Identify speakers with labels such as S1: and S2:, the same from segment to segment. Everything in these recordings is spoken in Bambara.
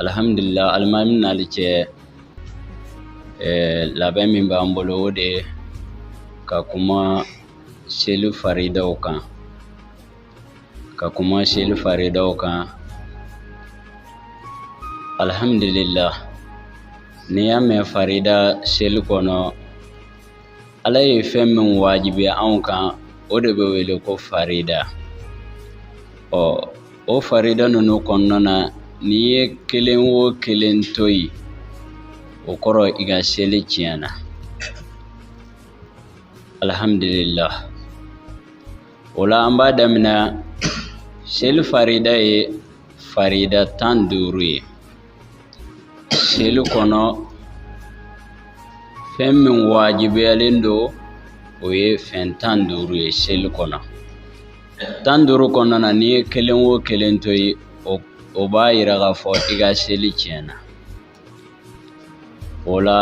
S1: alhamdulillah alimamin nali cɛ eh, labɛn min b'an bolo o de ka kuma seli faridaw kan ka kuma seli faridaw kan alhamdulillah n'i y'a mɛn farida seli kɔnɔ ala ye fɛn min wajibiya anw kan o de bɛ wele ko farida ɔ o farida ninnu kɔnɔna na n'i ye kelen o kelen to yen o kɔrɔ i ka seli tiɲɛna alhamdulillah o la an b'a daminɛ seli farida ye farida tan duuru ye seli kɔnɔ fɛn min wajibiyalen don o ye fɛn tan duuru ye seli kɔnɔ tan duuru kɔnɔna na n'i ye kelen o kelen to yen o b'a yira k'a fɔ i ka seli tiɲɛna o la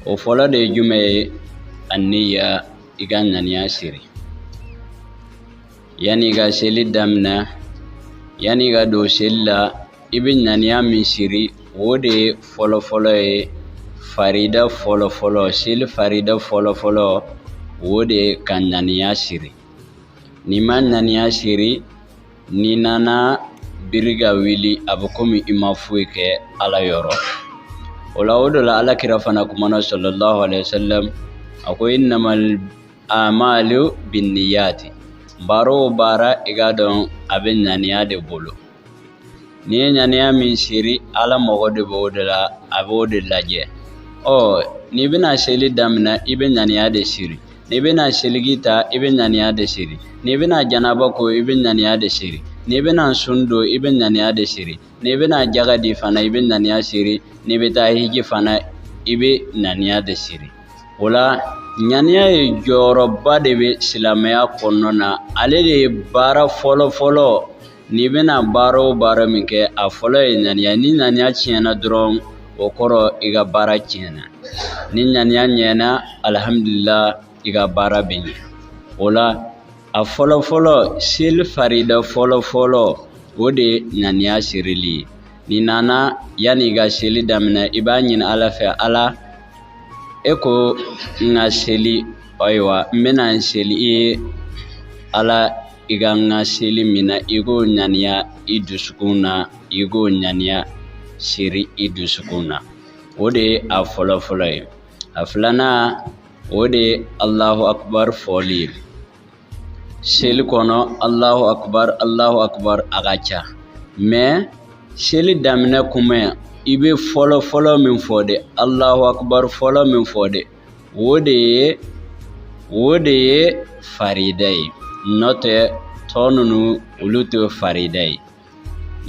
S1: o fɔlɔ de ye jumɛn ye anniya i ka ŋaniya siri yanni i ka seli daminɛ yanni i ka don seli la i bɛ ŋaniya min siri o de ye fɔlɔfɔlɔ ye farida fɔlɔfɔlɔ seli farida fɔlɔfɔlɔ o de ye ka ŋaniya siri n'i ma ŋaniya siri N'i nana biri ka wuli a bɛ komi i ma foyi kɛ ala yɔrɔ o la o de la ala kira fana kumana sallallahu alayhi wa sallam a ko innamal amalu binniyati baara o baara i k'a dɔn a bɛ ŋaniya de bolo n'i ye ŋaniya min siri ala mago de b'o de la a b'o de lajɛ ɔ n'i bɛna seli daminɛ i bɛ ŋaniya de siri n'i bɛna seligi ta i bɛ ŋaniya de siri n'i bɛna janaba ko i bɛ ŋaniya de siri n'i bɛna sun don i bɛ ŋaniya de siri n'i bɛna jaga di fana i bɛ ŋaniya siri n'i bɛ taa hiji fana i bɛ ŋaniya de siri o la ŋaniya ye jɔyɔrɔba de bɛ silamɛya kɔnɔna na ale de ye baara fɔlɔ fɔlɔ N'i bɛna baara o baara min kɛ a fɔlɔ ye ɲaniya ni ɲaniya tiɲɛna dɔrɔn o kɔrɔ i ka baara tiɲɛna ni ɲaniya ɲɛna alihamudulila i ka baara bɛ ɲɛ o la a fɔlɔ fɔlɔ seli farida fɔlɔ fɔlɔ o de ye ɲaniya sirili ye n'i nana yanni i ka seli daminɛ i b'a ɲini ala fɛ ala e ko n ka seli ayiwa n bɛna n seli i ye ala i ka n ka seli min na i k'o ɲaniya i dusukun na i k'o ɲaniya siri i dusukun na o de ye a fɔlɔ fɔlɔ ye a filanan o de ye alahu akubar fɔli ye seli kɔnɔ alahu akubar alahu akubar a ka ca mɛ seli daminɛ kuma i bɛ fɔlɔ fɔlɔ min fɔ de alahu akubar fɔlɔ min fɔ de o de ye o de ye farida ye n'o tɛ tɔ ninnu olu tɛ farida ye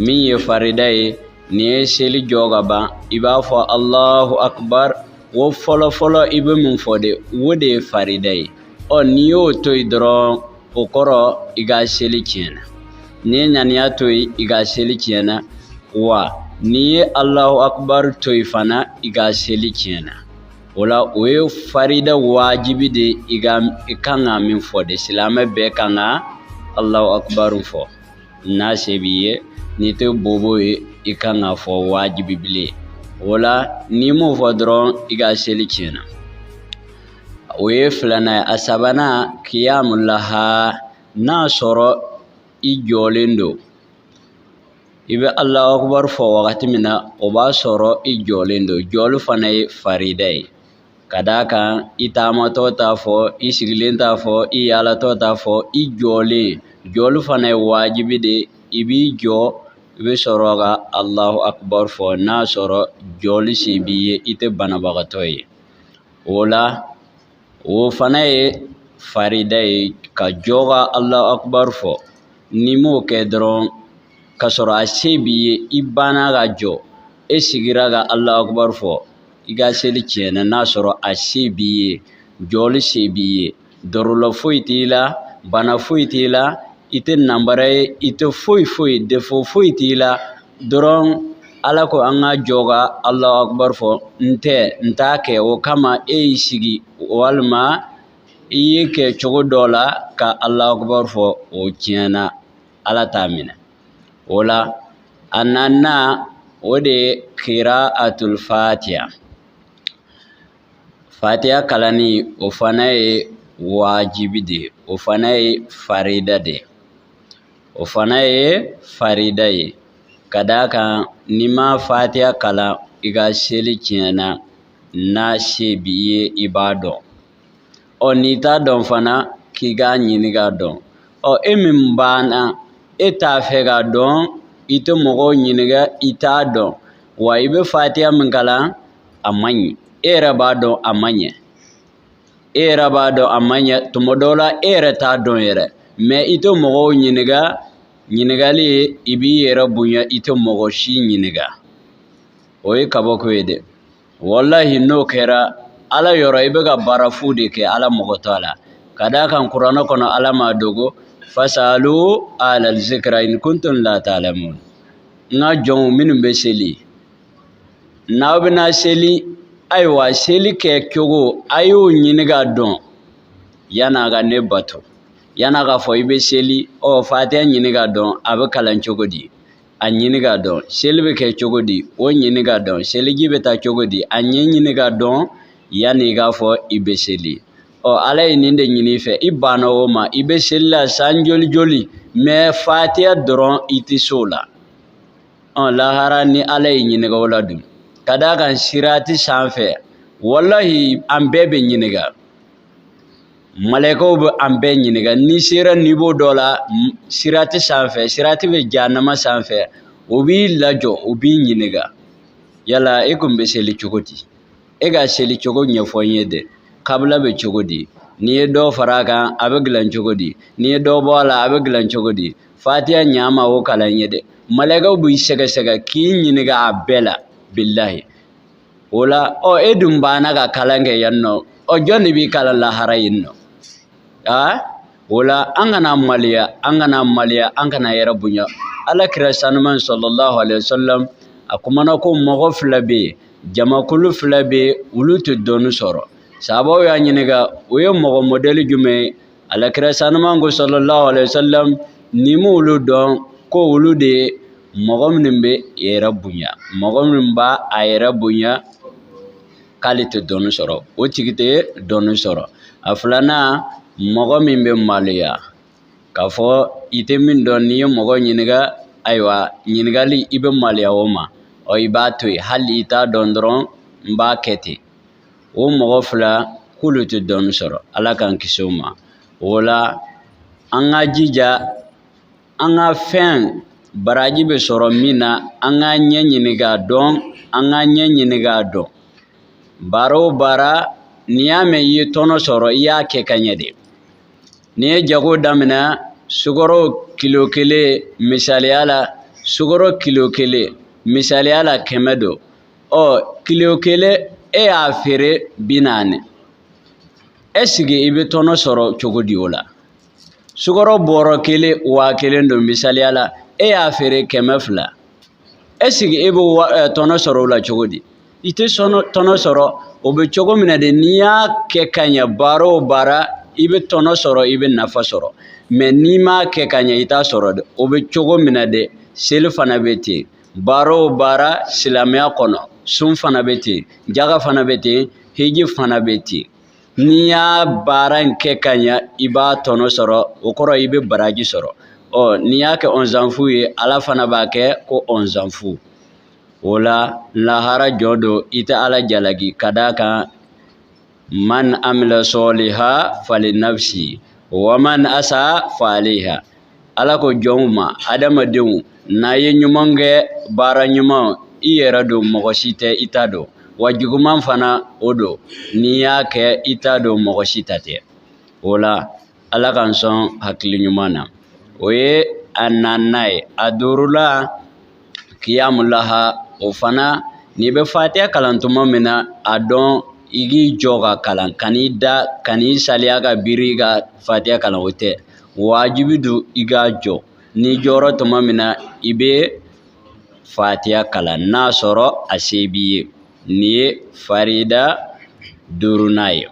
S1: min ye farida ye n'i ye seli jɔ ka ban i b'a fɔ alahu akubar wo fɔlɔfɔlɔ i bɛ min fɔ de wo de ye farida ye ɔ n'i y'o to yen dɔrɔn o kɔrɔ i ka seli tiɲɛna n'i ye ŋaniya to yen i ka seli tiɲɛna wa n'i ye alahu akubar to yen fana i ka seli tiɲɛna o la o ye farida wajibi de i ka i kan ka min fɔ de silamɛ bɛɛ kan ka alahu akubaru fɔ n'a se b'i ye n'i tɛ bobo ye i kan k'a fɔ wajibi bilen o la n'i m'o fɔ dɔrɔn i ka seli tiɲɛna o ye filanan ye a sabanan kiyamu laha n'a sɔrɔ i jɔlen don i bɛ alahu akubar fɔ wagati min na o b'a sɔrɔ i jɔlen don jɔli fana ye farida ye ka d'a kan i taamatɔ t'a fɔ i sigilen t'a fɔ i yaalatɔ t'a fɔ i jɔlen jɔli fana ye wajibi de i b'i jɔ i bɛ sɔrɔ ka alahu akubar fɔ n'a sɔrɔ jɔli se b'i ye i tɛ banabagatɔ ye o la o fana ye farida ye ka jɔ ka alahu akubar fɔ n'i m'o kɛ dɔrɔn ka sɔrɔ a se b'i ye i banna ka jɔ e sigira ka alahu akubar fɔ i ka seli tiɲɛna n'a sɔrɔ a se b'i ye jɔli se b'i ye dɔrɔlɔ foyi t'i la bana foyi t'i la i tɛ nanbara ye i tɛ foyi foyi defo foyi t'i la dɔrɔn ala ko an ka jɔ ka alahu akubar fɔ n tɛ n t'a kɛ o kama e y'i sigi walima i y'i kɛ cogo dɔ la ka alahu akubar fɔ o tiɲɛna ala t'a minɛ o la a naaninan o de ye kiraatul fatiya fatiya kalanni o fana ye wajibi de o fana ye farida de o fana ye farida ye ka d'a kan n'i ma fatiya kalan i ka seli tiɲɛna n'a se b'i ye i b'a dɔn ɔ n'i t'a dɔn fana k'i k'a ɲini k'a dɔn ɔ e min banna e t'a fɛ k'a dɔn i tɛ mɔgɔw ɲininka i t'a dɔn wa i bɛ fatiya min kalan a man ɲi e yɛrɛ b'a dɔn a man ɲi e yɛrɛ b'a dɔn a ma ɲɛ tuma dɔw la e yɛrɛ t'a dɔn yɛrɛ mɛ i tɛ mɔgɔw ɲininka ɲininkali ye i b'i yɛrɛ bonya i tɛ mɔgɔ si ɲininka o ye kabako ye dɛ walahi n'o kɛra ala yɔrɔ i bɛ ka baara fu de kɛ ala mago t'a la ka d'a kan kuranɛ kɔnɔ ala m'a dogo fasalu alal zikra in kuntum la ta'lamun n ka jɔnw minnu bɛ seli n'aw bɛna seli ayiwa seli kɛ cogo a y'o ɲini k'a dɔn yan'a ka ne bato yan'a k'a fɔ i bɛ seli ɔ fatiya ɲini k'a dɔn a bɛ kalan cogo di a ɲini k'a dɔn seli bɛ kɛ cogo di o ɲini k'a dɔn seliji bɛ ta cogo di a ɲɛ ɲini k'a dɔn yanni i k'a fɔ i bɛ seli ɔ ala ye nin de ɲini i fɛ i banna o ma i bɛ seli la san joli joli mɛ fatiya dɔrɔn i tɛ se o la ɔn lahara ni ala y'i ɲininka o la dun ka d'a kan sirati san fɛ walahi an bɛɛ bɛ ɲininka malɛkaw bɛ an bɛɛ ɲininka n'i sera niveau dɔ la sirati san fɛ sirati bɛ jahanama san fɛ o b'i lajɔ o b'i ɲininka yala e kun bɛ seli cogo di e ka seli cogo ɲɛfɔ n ye dɛ kabila bɛ cogo di n'i ye dɔ fara a kan a bɛ dilan cogo di n'i ye dɔ bɔ a la a bɛ dilan cogo di fatiya ɲama o kalan n ye dɛ malɛkaw b'i sɛgɛsɛgɛ k'i ɲininka a bɛɛ la bilahi o la ɔ e dun banna ka kalan kɛ yan nɔ ɔ jɔn de b'i kalan lahara yen nɔ aa o la an kana maliya an kana maliya an kana yɛrɛ bonya ala kira sanuman sallallahu alayhi wa sallam a kumana ko mɔgɔ fila bɛ yen jamakulu fila bɛ yen olu tɛ dɔnni sɔrɔ sabaw y'a ɲininka o ye mɔgɔ mɔdɛli jumɛn ye alakira sanuman ko sallallahu alaihi wasallam n'i m'olu dɔn ko olu de ye mɔgɔ minnu bɛ yɛrɛ bonya mɔgɔ min b'a a yɛrɛ bonya k'ale tɛ dɔnni sɔrɔ o tigi tɛ dɔnni sɔrɔ a filanan mɔgɔ min bɛ maloya k'a fɔ i tɛ min dɔn n'i ye mɔgɔ ɲininka ayiwa ɲininkali i bɛ maloya o ma ɔ i b'a to yen hali i t'a dɔn dɔrɔn n b'a kɛ ten o mɔgɔ fila k'olu tɛ dɔnni sɔrɔ ala k'an kisi o ma o la an ka jija an ka fɛn baraji bɛ sɔrɔ min na an k'a ɲɛ ɲini k'a dɔn an k'a ɲɛ ɲini k'a dɔn baara o baara n'i y'a mɛn i ye tɔnɔ sɔrɔ i y'a kɛ ka ɲɛ de n'i ye jago daminɛ sukaro kilo kelen misaliya la sukaro kilo kelen misaliya la kɛmɛ don ɔ kilo kelen e y'a feere bi naani ɛsigi i bɛ tɔnɔ sɔrɔ cogo di o la sukɔrɔ bɔrɔ kelen waa kelen don misaliya la e y'a feere kɛmɛ fila ɛsigi e bɛ tɔnɔ sɔrɔ o la cogo di i tɛ tɔnɔ sɔrɔ o bɛ cogo min na de n'i y'a kɛ ka ɲɛ baara o baara i bɛ tɔnɔ sɔrɔ i bɛ nafa sɔrɔ mɛ n'i m'a kɛ ka ɲɛ i t'a sɔrɔ dɛ o bɛ cogo min na dɛ seli fana bɛ ten baara o baara silamɛya kɔnɔ sun fana bɛ ten jaga fana bɛ ten hiji fana bɛ ten n'i y'a baara in kɛ ka ɲa i b'a tɔnɔ sɔrɔ o kɔrɔ i bɛ baraji sɔrɔ ɔ n'i y'a kɛ ɔnzanfu ye ala fana b'a kɛ ko ɔnzanfu o la lahara jɔ don i tɛ ala jalaki ka d'a kan man amila sɔliha fali nafsi wa man asa faliha ala ko jɔnw ma adamadenw n'a ye ɲuman kɛ baara ɲuman i yɛrɛ don mɔgɔ si tɛ i ta don wa juguman fana o don n'i y'a kɛ i ta don mɔgɔ si ta tɛ o la ala k'an sɔn hakili ɲuman na o ye a naaninan ye a duurula kiyamulaha o fana n'i bɛ fatiya kalan tuma min na a dɔn i k'i jɔ k'a kalan kan'i da kan'i saliya ka biri i ka fatiya kalan o tɛ wajibi don i ka jɔ n'i jɔra tuma min na i bɛ fatiya kalan n'a sɔrɔ a se b'i ye nin ye farida duurunan ye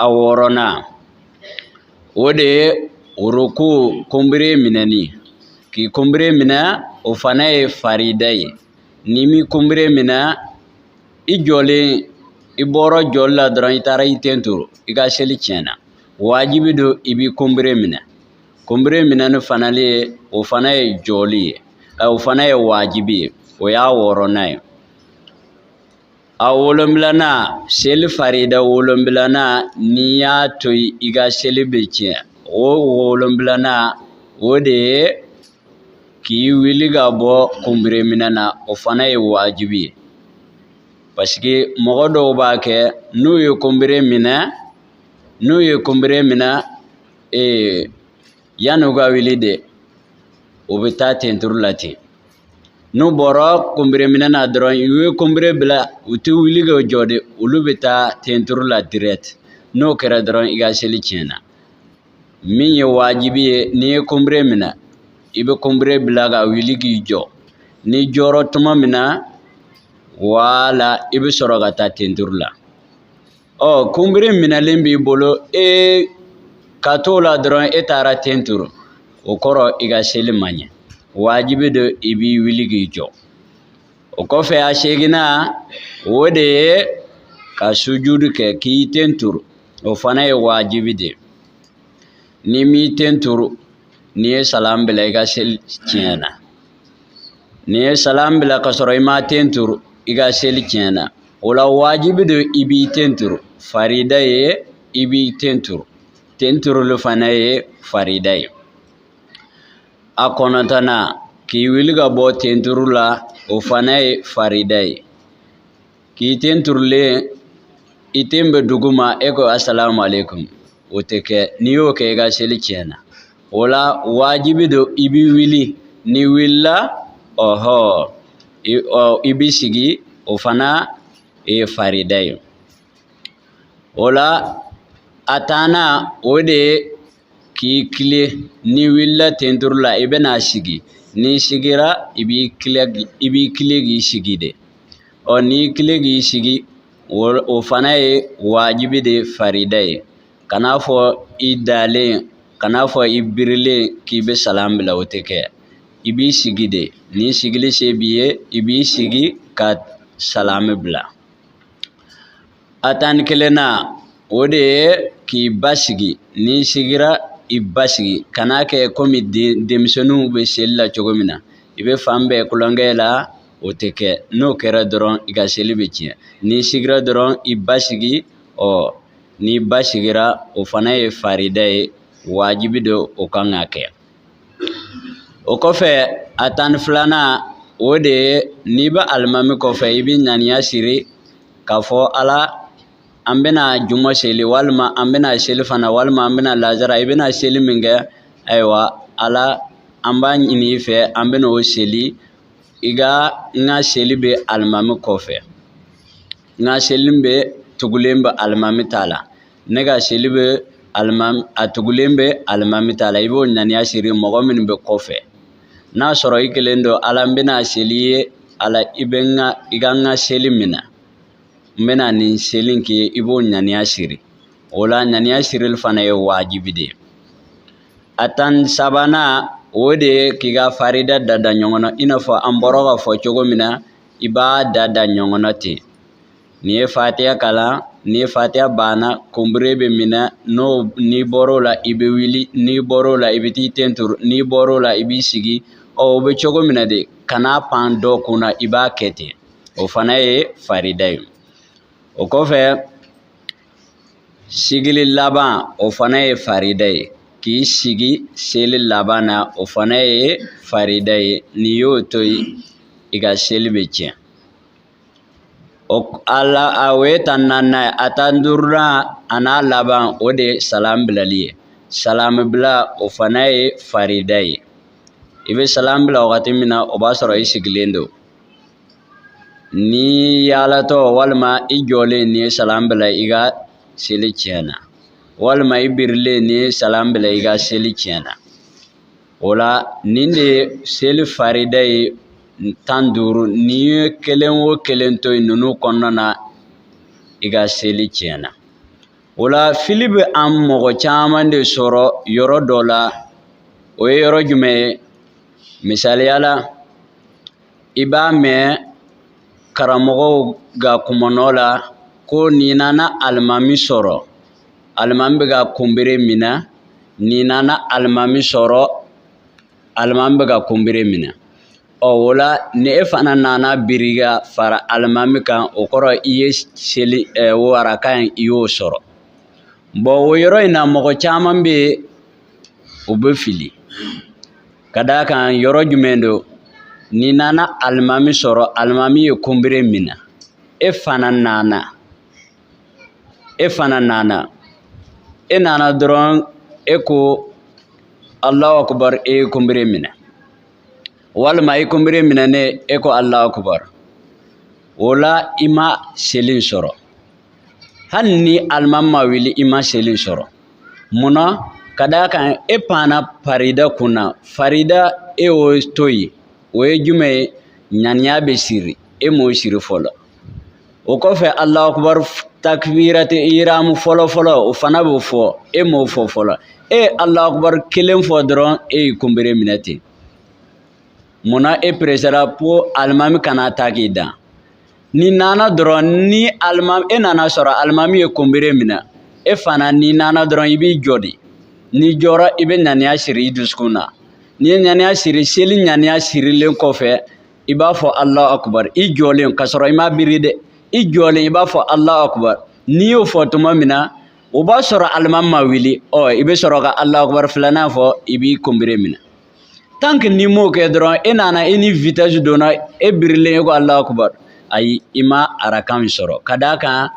S1: a wɔɔrɔnan o de ye ruku kunbere minɛni k'i kunbere minɛ o fana ye farida ye n'i m'i kunbere minɛ i jɔlen i bɔra jɔli la dɔrɔn i taara i ten turu i ka seli tiɲɛna wajibi don i b'i kunbere minɛ kunbere minɛni fana le o fana ye jɔli ye o fana ye wajibi ye o y'a wɔɔrɔnan ye A wolonfilana seli farida wolonfilana n'i y'a to yen i ka seli bɛ tiɲɛ o wolonfilana o de ye k'i wuli ka bɔ kunbere minɛ na o fana ye wajibi ye paseke mɔgɔ dɔw b'a kɛ n'u ye kunbere minɛ n'u ye kunbere minɛ ee yanni u ka wuli de u bɛ taa tenturu la ten n'u bɔra kunbere minɛ na dɔrɔn u ye kunbere bila u tɛ wuli ka jɔ de olu bɛ taa tenturu la direct n'o kɛra dɔrɔn i ka seli tiɲɛna min ye wajibi ye n'i ye kunbere minɛ i bɛ kunbere bila ka wuli k'i jɔ n'i jɔra tuma min na wala i bɛ sɔrɔ ka taa tenturu la ɔ kunbiri minɛlen b'i bolo e ka t'o la dɔrɔn e taara ten turu o kɔrɔ i ka seli man ɲɛ wajibi don i b'i wuli k'i jɔ o kɔfɛ a seginnan o de ye ka sujudu kɛ k'i ten turu o fana ye wajibi de ye n'i m'i ten turu n'i ye salam bila i ka seli tiɲɛna n'i ye salam bila ka sɔrɔ i ma ten turu i ka seli tiɲɛna o la wajibi don i b'i ten turu farida ye i b'i ten turu ten turuli fana ye farida ye a kɔnɔntɔnnan k'i wuli ka bɔ ten turu la o fana ye farida ye k'i ten turulen i ten bɛ duguma e ko asalamu aleykum o tɛ kɛ n'i y'o kɛ i ka seli tiɲɛna o la wajibi don i b'i wuli n'i wulila ɔhɔ i b'i sigi o fana ye farida ye o la a tannan o de ye k'i tilen n'i wulila ten turu la i bɛna sigi n'i sigira i b'i tilen i b'i tilen k'i sigi de ɔ n'i tilen k'i sigi o fana ye wajibi de ye farida ye kan'a fɔ i dalen kan'a fɔ i birilen k'i bɛ salam bila o tɛ kɛ i b'i sigi de ni sigili se b'i ye i b'i sigi ka salami bila a tan ni kelennan o de ye k'i basigi n'i sigira i basigi kan'a kɛ komi denmisɛnninw bɛ seli la cogo min na i bɛ fan bɛɛ kulonkɛ la o tɛ kɛ n'o kɛra dɔrɔn i ka seli bɛ tiɲɛ n'i sigira dɔrɔn i basigi ɔ n'i basigira o fana ye farida ye wajibi don o kan ka kɛ o kɔfɛ a tan ni filanan o de ye n'i bɛ alimami kɔfɛ i bɛ ŋaniya siri k'a fɔ ala an bɛna juma seli walima an bɛna selifana walima an bɛna lazara i bɛna seli min kɛ ayiwa ala an b'a ɲini i fɛ an bɛna o seli i ka n ka seli bɛ alimami kɔfɛ n ka seli bɛ tugulen bɛ alimami ta la ne ka seli bɛ alimami a tugulen bɛ alimami ta la i b'o ŋaniya siri mɔgɔ minnu bɛ kɔfɛ n'a sɔrɔ i kelen don ala n bɛna seli i ye ala i bɛ n ka i ka n ka seli minɛ n bɛna nin seli in k'i ye i b'o ŋaniya siri o la ŋaniya sirili fana ye wajibi de ye a tan sabanan o de ye k'i ka farida da da ɲɔgɔn na i n'a fɔ an bɔra k'a fɔ cogo min na i b'a da da ɲɔgɔn na ten N'i ye fatiya kalan n'i ye fatiya banna kunbere bɛ minɛ n'o n'i bɔr'o la i bɛ wuli n'i bɔr'o la i bɛ t'i ten turu n'i bɔr'o la i b'i sigi ɔ o bɛ cogo min na de kana pan dɔ kun na i b'a kɛ ten o fana ye farida ye o kɔfɛ sigili laban o fana ye farida ye k'i sigi seli laban na o fana ye farida ye n'i y'o to yen i ka seli bɛ tiɲɛ O la a o ye tan naani ye a tan duurunan a n'a laban o de ye salamu bilali ye salamu bila o fana ye farida ye i bɛ salamu bila wagati min na o b'a sɔrɔ i sigilen don n'i yaalatɔ walima i jɔlen n'i ye salamu bila i ka seli tiɲɛna walima i birilen n'i ye salamu bila i ka seli tiɲɛna o la nin de ye seli farida ye tan duuru n'i ye kelen o kelen to yen ninnu kɔnɔna na i ka seli tiɲɛna o la fili bɛ an mɔgɔ caman de sɔrɔ yɔrɔ dɔ la o ye yɔrɔ jumɛn ye misaliya la i b'a mɛn karamɔgɔw ka kumanɔ la ko n'i nana alimami sɔrɔ alimami bɛ ka kunbere minɛ n'i nana alimami sɔrɔ alimami bɛ ka kunbere minɛ ɔ o la ni e fana nana biri ka fara alimami kan o kɔrɔ i ye seli ɛ o raka in i y'o sɔrɔ bɔn o yɔrɔ in na mɔgɔ caman bɛ yen u bɛ fili ka d'a kan yɔrɔ jumɛn don n'i nana alimami sɔrɔ alimami ye kunbere minɛ e fana nana. e fana nana e nana dɔrɔn e ko alahu akubar e ye kunbere minɛ walima i kunbere minɛnen e ko alahu akubar o la i ma seli sɔrɔ hali ni alimami ma wuli i ma seli sɔrɔ munna ka d'a kan e panna farida kun na farida e y'o to yen o ye jumɛn ye ŋaniya bɛ siri e m'o siri fɔlɔ o kɔfɛ alahu akubar takbirati ihramu fɔlɔ fɔlɔ o fana bɛ fɔ e m'o fɔ fɔlɔ e ye alahu akubar kelen fɔ dɔrɔn e y'i kunbere minɛ ten munna e peresera ko alimami kana taa k'i dan n'i nana dɔrɔn ni alimami e nana sɔrɔ alimami ye kunbere minɛ e fana n'i nana dɔrɔn i b'i jɔ de n'i jɔra i bɛ ŋaniya siri i dusukun na n'i ye ŋaniya siri seli ŋaniya sirilen kɔfɛ i b'a fɔ ala akubar i jɔlen ka sɔrɔ i ma biri dɛ i jɔlen i b'a fɔ ala akubar n'i y'o fɔ tuma min na o b'a sɔrɔ alimami ma wuli ɔ i bɛ sɔrɔ ka ala akubar filanan fɔ i b'i kunbere minɛ tanki n'i m'o kɛ dɔrɔn e nana i ni vitɛsi donna e birilen e ko ala akubar ayi i ma araka in sɔrɔ ka d'a kan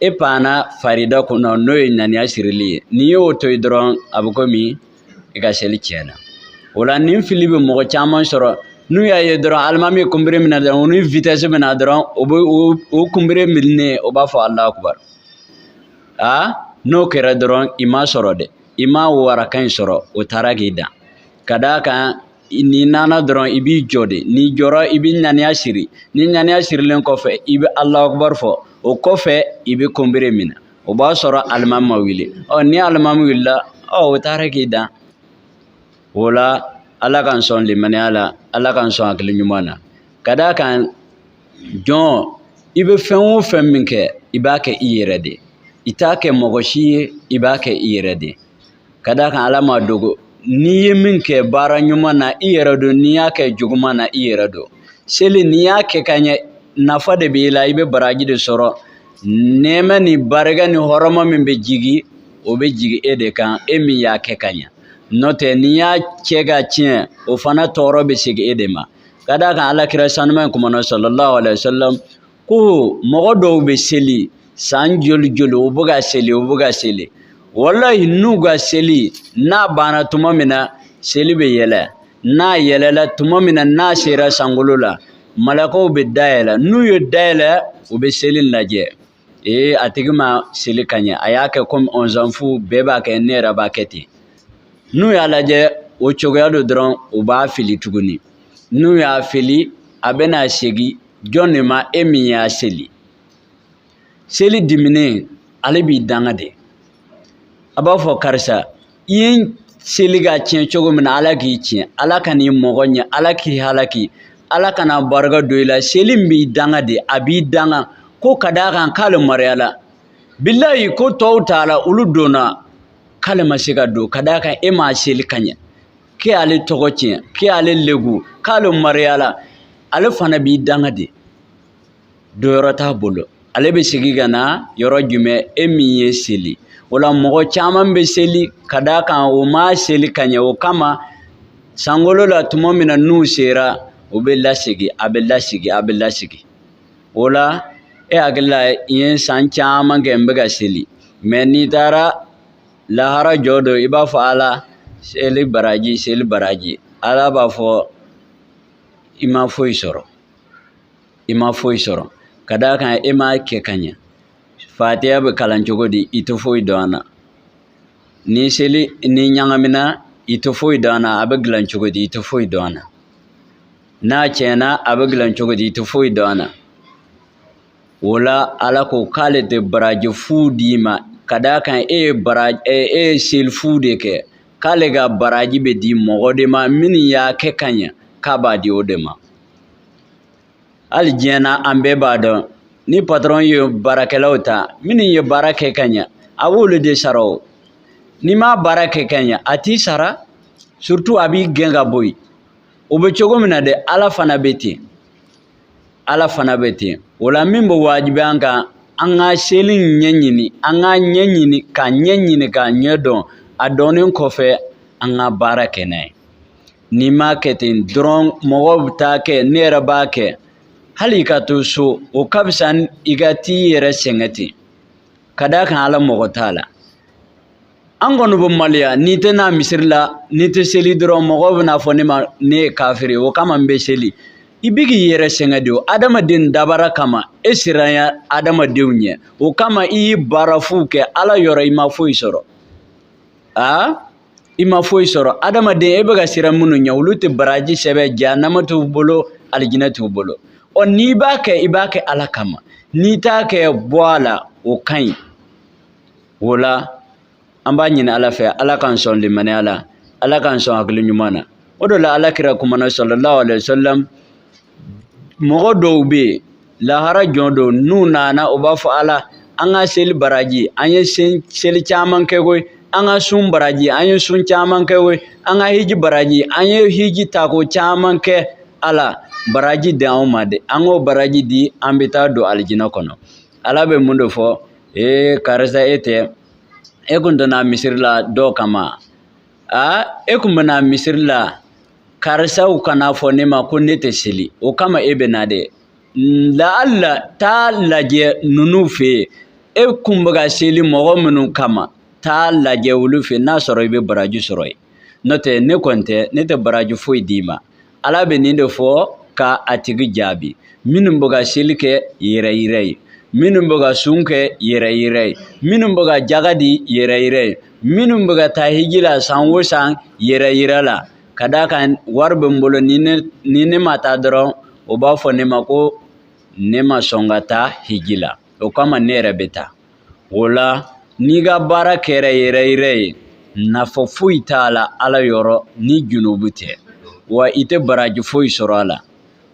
S1: e panna farida kunna n'o ye ŋaniya sirili ye n'i y'o to yen dɔrɔn a bɛ komi i ka seli tiɲɛna o la nin fili bɛ mɔgɔ caman sɔrɔ n'u y'a ye dɔrɔn alimami ye kunbere minɛ dɔrɔn u ni vitɛsi bɛ na dɔrɔn u bɛ u kunbere minɛ u b'a fɔ alahu akubar aa n'o kɛra dɔrɔn i ma sɔrɔ dɛ i ma o araka in sɔrɔ o taara k'i dan ka d'a kan n'i nana dɔrɔn i b'i jɔ de n'i jɔra i bɛ ŋaniya siri ni ŋaniya sirilen kɔfɛ i bɛ alahu akubar fɔ o kɔfɛ i bɛ kunbere minɛ o b'a sɔrɔ alimami ma wuli ɔ ni alimami wulila ɔ o taara k'i dan o la ala k'an sɔn limaniya la ala k'an sɔn hakili ɲuman na ka d'a kan jɔn i bɛ fɛn o fɛn min kɛ i b'a kɛ i yɛrɛ de i t'a kɛ mɔgɔ si ye i b'a kɛ i yɛrɛ de ka d'a kan ala m'a dogo n'i ye min kɛ baara ɲuman na i yɛrɛ don n'i y'a kɛ juguman na i yɛrɛ don seli n'i y'a kɛ ka ɲɛ nafa de b'i la i bɛ baraji de sɔrɔ nɛɛma ni barika ni hɔrɔma min bɛ jigin o bɛ jigin e de kan e min y'a kɛ ka ɲɛ n'o tɛ n'i y'a kɛ ka tiɲɛ o fana tɔɔrɔ bɛ segin e de ma ka d'a kan ala kira sanuma in kumana sallallahu alayhi wa sallam ko mɔgɔ dɔw bɛ seli san joli joli u bɛ ka seli u bɛ ka seli walayi n'u ka seli n'a banna tuma min na seli bɛ yɛlɛ n'a yɛlɛla tuma min na n'a sera sankolo la malakaw bɛ da yɛlɛ n'u ye da yɛlɛ u bɛ seli lajɛ ee a tigi ma seli ka ɲɛ a y'a kɛ komi ɔnzanfu bɛɛ b'a kɛ ne yɛrɛ b'a kɛ ten n'u y'a lajɛ o cogoya don dɔrɔn u b'a fili tuguni n'u y'a fili a bɛna segin jɔn de ma e min y'a seli seli diminen ale b'i danga de a b'a fɔ karisa i ye seli ka tiɲɛ cogo min na ala k'i tiɲɛ ala kan'i mɔgɔya ala k'i halaki ala kana barika don i la seli in b'i danga de a b'i danga ko ka d'a kan k'ale mariyala bilayi ko tɔw taala olu donna k'ale ma se ka don ka d'a kan e m'a seli ka ɲɛ k'e ale tɔgɔ tiɲɛ k'e ale legu k'ale mariyala ale fana b'i danga de donyɔrɔ t'a bolo ale bɛ segin ka na yɔrɔ jumɛn e min ye seli o la mɔgɔ caman bɛ seli ka d'a kan u m'a seli ka ɲɛ o kama sankolo la tuma min na n'u sera u bɛ lasegin a bɛ lasegin a bɛ lasegin o la e hakili la n ye san caman kɛ n bɛ ka seli mɛ n'i taara lahara jɔ don i b'a fɔ ala seli baraji seli baraji ala b'a fɔ i ma foyi sɔrɔ i ma foyi sɔrɔ ka d'a kan e m'a kɛ ka ɲɛ fatiya bɛ kalan cogo di i tɛ foyi dɔn a na ni seli ni ɲagamina i tɛ foyi dɔn a na a bɛ dilan cogo di i tɛ foyi dɔn a na n'a tiɲɛna a bɛ dilan cogo di i tɛ foyi dɔn a na o la ala ko k'ale tɛ baraji fu d'i ma ka d'a kan e ye bara e ye seli fu de kɛ k'ale ka baraji bɛ di mɔgɔ de ma minnu y'a kɛ ka ɲɛ k'a b'a di o de ma hali diɲɛ na an bɛɛ b'a dɔn ni patɔrɔn ye baarakɛlaw ta minnu ye baara kɛ ka ɲɛ a b'olu de sara o n'i m'a baara kɛ ka ɲɛ a t'i sara surtout a b'i gɛn ka bɔ yen o bɛ cogo min na dɛ ala fana bɛ ten ala fana bɛ ten o la min bɛ wajibiya an kan an ka seli ɲɛɲini an k'a ɲɛɲini k'a ɲɛɲini k'a ɲɛ dɔn a dɔnnen kɔfɛ an ka baara kɛ n'a ye n'i m'a kɛ ten dɔrɔn mɔgɔw bɛ taa kɛ ne yɛrɛ b'a kɛ hali i ka to so o ka fisa i ka t'i yɛrɛ sɛgɛn ten ka d'a kan ala mago t'a la an kɔni bɛ maloya n'i tɛ na misiri la n'i tɛ seli dɔrɔn mɔgɔw bɛn'a fɔ ne ma ne ye kafiri o kama n bɛ seli i bɛ k'i yɛrɛ sɛgɛn de o adamaden dabara kama e siranya adamadenw ɲɛ o kama i ye baara fu kɛ ala yɔrɔ i ma foyi sɔrɔ aa i ma foyi sɔrɔ adamaden e bɛ ka siran minnu ɲɛ olu tɛ baraji sɛbɛn jahanama t'u bolo alijinɛ t'u bolo ɔ n'i b'a kɛ i b'a kɛ ala kama n'i t'a kɛ bɔ a la o ka ɲi o la an b'a ɲini ala fɛ ala k'an sɔn limaniya la ala k'an sɔn hakili ɲuman na o de la ala kira kumana sallallahu alayhi wa sallam mɔgɔ dɔw bɛ yen lahara jɔ don n'u nana u b'a fɔ ala an ka seli baraji an ye seli caman kɛ koyi an ka sun baraji an ye sun caman kɛ koyi an ka hiji baraji an ye hiji tako caman kɛ ala baraji di anw ma dɛ an ka baraji di an bɛ taa don alijinɛ kɔnɔ ala bɛ mun de fɔ ee karisa e tɛ e kun tɛ na misiri la dɔw kama a e kun bɛ na misiri la karisaw kan'a fɔ ne ma ko ne tɛ seli o kama e bɛ na dɛ laala taa lajɛ ninnu fɛ yen e kun bɛ ka seli mɔgɔ minnu kama taa lajɛ olu fɛ n'a sɔrɔ i bɛ baraji sɔrɔ yen n'o tɛ ne kɔni tɛ ne tɛ baraji foyi d'i ma ala bɛ nin de fɔ ka a tigi jaabi minnu bɛ ka seli kɛ yɛrɛyira ye minnu bɛ ka sun kɛ yɛrɛyira ye minnu bɛ ka jaga di yɛrɛyira ye minnu bɛ ka taa hiji la san o san yɛrɛyira la ka d'a kan wari bɛ n bolo ni ne ni ne ma taa dɔrɔn u b'a fɔ ne ma ko ne ma sɔn ka taa hiji la o kama ne yɛrɛ bɛ taa o la n'i ka baara kɛra yɛrɛyira ye nafa foyi t'a la ala yɔrɔ ni junubu tɛ wa i tɛ baraji foyi sɔrɔ a la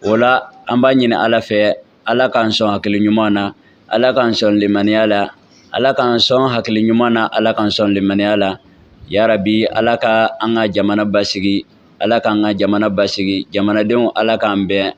S1: o la an b'a ɲini ala fɛ ala k'an sɔn hakili ɲuman na ala k'an sɔn limaniya la ala k'an sɔn hakili ɲuman na ala k'an sɔn limaniya la yarabi ala ka an ka jamana basigi ala k'an ka jamana basigi jamanadenw ala k'an bɛn